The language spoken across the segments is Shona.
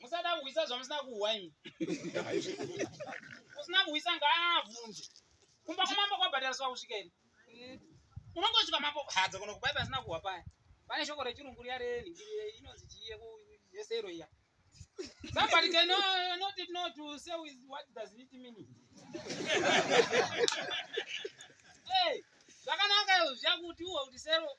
musada kuhwisa zvamusina kuhwa imi usina kuhwisa ngaabvunze kumba kwamambo kwabhadhariswa kusvika ini eh, unongosvika mambo hadza kuno kubai pasina kuhwa paya pane shoko rechirungu riya renhingirire inonzi chiye yesero iya somebody can know, not it know to say with what does it mean hey zvakanaka zviya kuti uwa kuti sero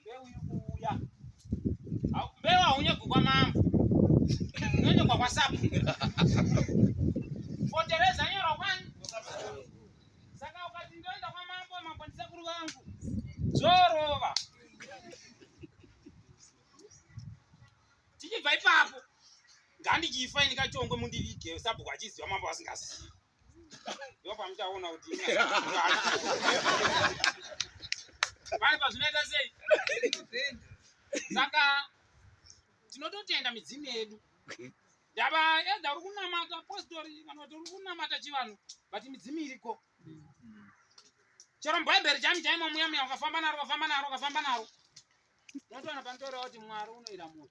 Mbeu iri kuuya. Mbeu haunyegwi kwamambo. Unonyegwa kwasapu. Fotereza nyora kwani? Saka ukati ndoenda kwamambo, mambo ndisekuru vangu. Zorova. Tichibva ipapo. Ngandichifa ini kachongwe mundivige sabhuku achiziva mambo asingazivi. Ndipo pamuchaona kuti pari pazvinoita sei saka tinototenda midzimu yedu ndava edha uri kunamata postori vanoti uri kunamata chivanhu but midzimu iriko chero mubhaibheri chami chaimo muya muya ukafamba naro ukafamba naro ukafamba naro unotoona panotorewa kuti mwari unoira munhu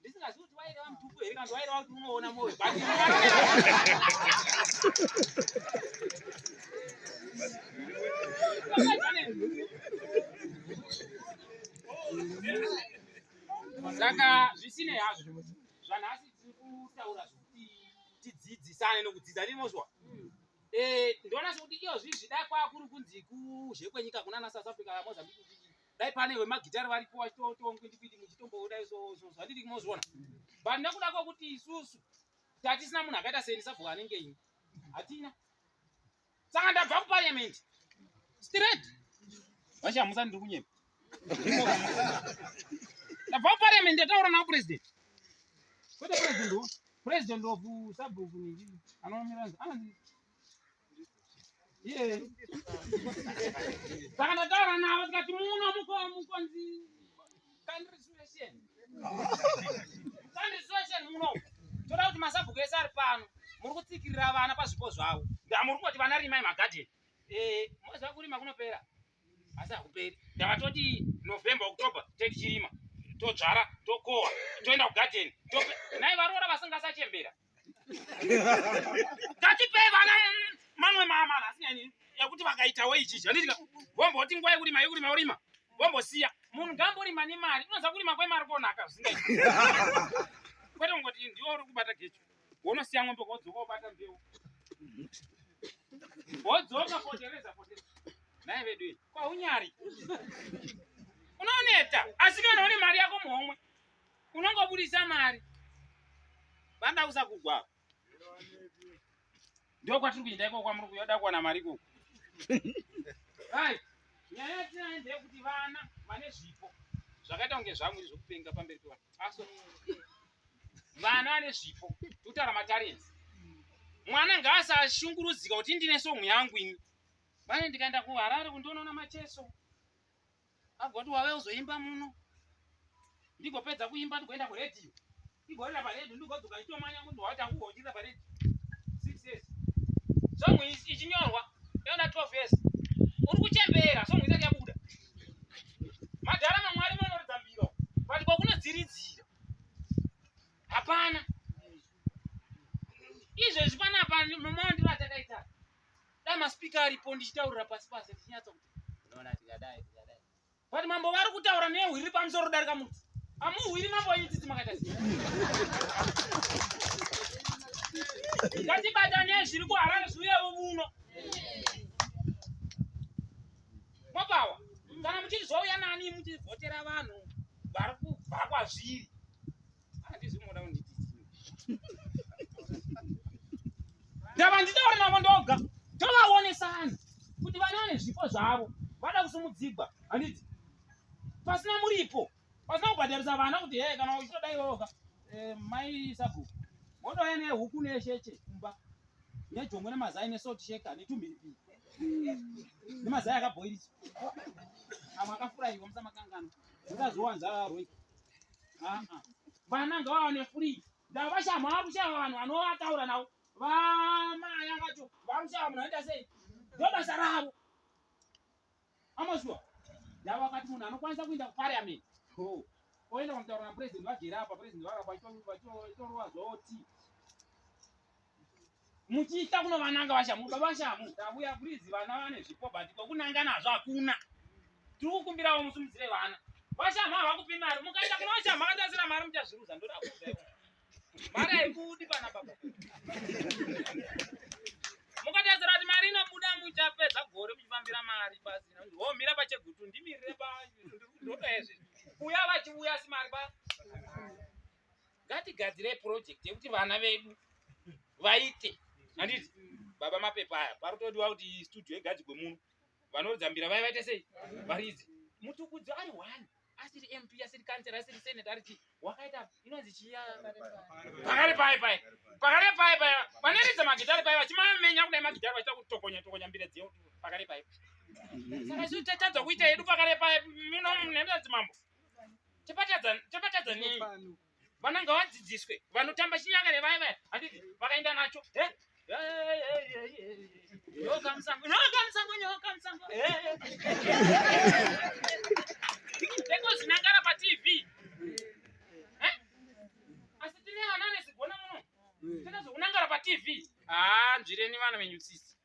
ndisingazivi kuti waireva mutuku here kana waireva kuti unoona moyo saka zvisinei hazvo zvanhasi tiri kutaura zvekuti tidzidzisane nokudzidza ndinozwa eh, ndoona sekuti iyo zvizvida kwakuri kunzi kuzhekwenyika kunana south africa mozambique dai pane vemagitari varipo vachitotongoitikuiti muchitombodai zvandiri mozviona but nekuda kwekuti isusu tatisina munhu akaita seni sabhuku anenge ini hatina saka ndabva kupariament straight vachamusa ndiri kunyema ndabva kupariament ndataura navo president kwete president president of sabhuku anomira anzi saka ndataura navo tikati muno mukonzi kandirisweshen kandirisweshen muno toda kuti masabhuku ese ari pano muri kutsikirira vana pazvipo zvavo ndamuri kuti vana rimai magadheni eh, moziva kurima kunopera asi hakuperi ndavatoti november october teti chirima todzvara tokohwa toenda kugadheni nai varoora vasingasachembera Tatipei vana mamwe maamala asinyanyiri ekuti vakaitawo ichi zvanditika vomboti nguva yekuti mai kurima urima vombosiya munhu ngamborima nemari unoziva kurima kwemari konaka zvisingai kwete kungoti ndiwo uri kubata gecho wonosiya ng'ombe kodzoka wobata mbeu wodzoka potereza potereza naye vedu iyi kwaunyari unooneta asi kana une mari yako muhomwe unongobudisa mari banda kusagugwa ndiko kwatiri kuenda ikoko kwamuri kuyoda kuwana mari ikoko nyaya yatinayo ndeyekuti vana vane zvipo zvakaita kunge zvamwiri zvekupenga pamberi pevanhu aso vana vane zvipo totara matarenzi mwana ngaasashungurudzika kuti ndine somu yangu ini vane ndikaenda kuharare kundionaona macheso agoti wave uzoimba muno ndigopedza kuimba ndigoenda kuredhiyo ndigorira paredhiyo ndigodzoka nditomanya kuti watangugochirira paredhiyo six years song ichinyorwa yaona twelve years uri kuchembera song isati yabuda madhara mamwari manoridza mbiro but kwakunodziridzira hapana izvezvi panapa mamaondivatakaita da maspika aripo ndichitaurira pasi pasi tichinyatsa kuti unoona tikadai tikadai but mambo vari kutaura nehwi riri pamusoro kudarika muti amuhwiri mambo wenyu tsitsi makaita sei ngatibatanei zviri kuharare zviuyevo vuno mwapawa kana muchiti zvauya nani muchivhotera vanhu vari kubva kwazviri ndava nditaure navo ndoga tovaonesana kuti vana vane zvipo zvavo vada kusimudzigwa handiti pasina muripo pasina kubhadharisa vana kuti hee kana uchitoda iwoka eh, mai sabhuku wodouya nehuku nesheche kumba nejongwe nemazai nesalt sheka netumhiripiri nemazai akabhoirisa amwe akafuraiwa musamakangana mukazowanza roika vana ngavawane free ndavashama vakushava vanhu vanovataura navo vamaya vacho vakushava munhu aita sei ndobasa ravo amazuva ndava vakati munhu anokwanisa kuinda kupariament oenda kwamutaura napurezidendi vagere apa purezidendi vavakwa itorova zvoti muchiita kunovananga vashamu baba vashamu tavuya please vana vane zvipo but kwekunanga nazvo hakuna tiri kukumbirawo musimudzire vana vashamu havakupi mari mukaita kuna vashamu akatasira mari muchazviruza ndoda kuuza mari haibudi pana baba mukatasira kuti mari inobuda muchapedza gore muchifambira mari pasina homira pachegutu ndimirire pa ndoda izvi kuya vachiuya simari pa ngatigadzirei project yekuti vana vedu vaite handiti baba mapepa aya parutodiwa kuti studio igadzigwe muno vanoridza mbira vaya vaite sei varidzi mutukudzi ari one asiri mp asiri kansera asiri senate ari chii wakaita inonzi chiya pakare paye paye pakare paye paye vanoridza magitari paye vachimamenya kudai magitari vachiita kutokonya tokonya mbira dziyo pakare paye saka izvi tatadza kuita yedu pakare paye mino nemadzimambo tapatadza nei vana ngavadzidziswe vanotamba chinyakare vaya vaya handiti vakaenda nacho nyoka musango nyoka musango nyoka musango tekozinangara patv asi tine vana anezigona muno takazokunangara patv haa nzvireni vana venyu sisi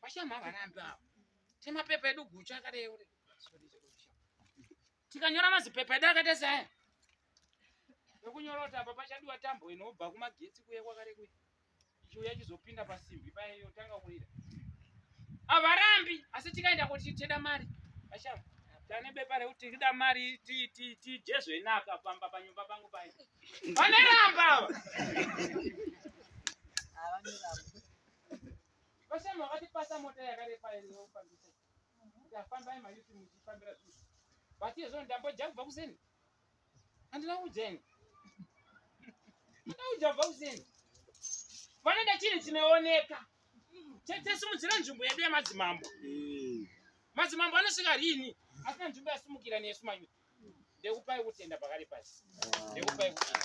Vashama havarambi ava. Tine mapepa edu guchu akadai uri. Tikanyora mazipepa edu akaita sei? Nekunyora kuti apa pachadiwa tambo inobva kumagetsi kuye kwakare kuye. Ichiuya chizopinda pasimbi paye yotanga kuira. Havarambi asi tikaenda kuti teda mari. Vashama tane bepa rekuti tida mari tijezwe naka pamba panyumba pangu paye. Vaneramba ava. Havaneramba. Vashami vakatipasa mota yakarepa inofambisa. Ndafamba ima yuti muchifambira zvinhu. But iye zvino ndambodya kubva kuseni. Handina kudyeni. Handina kudya kubva kuseni. Vanoda chinhu chinooneka. Chete simudzira nzvimbo yedu yemadzimambo. Eh. Madzimambo anosvika rini? Asina nzvimbo yasimukira nesu mayuti. Ndekupai kutenda pakari pasi. Ndekupai kutenda.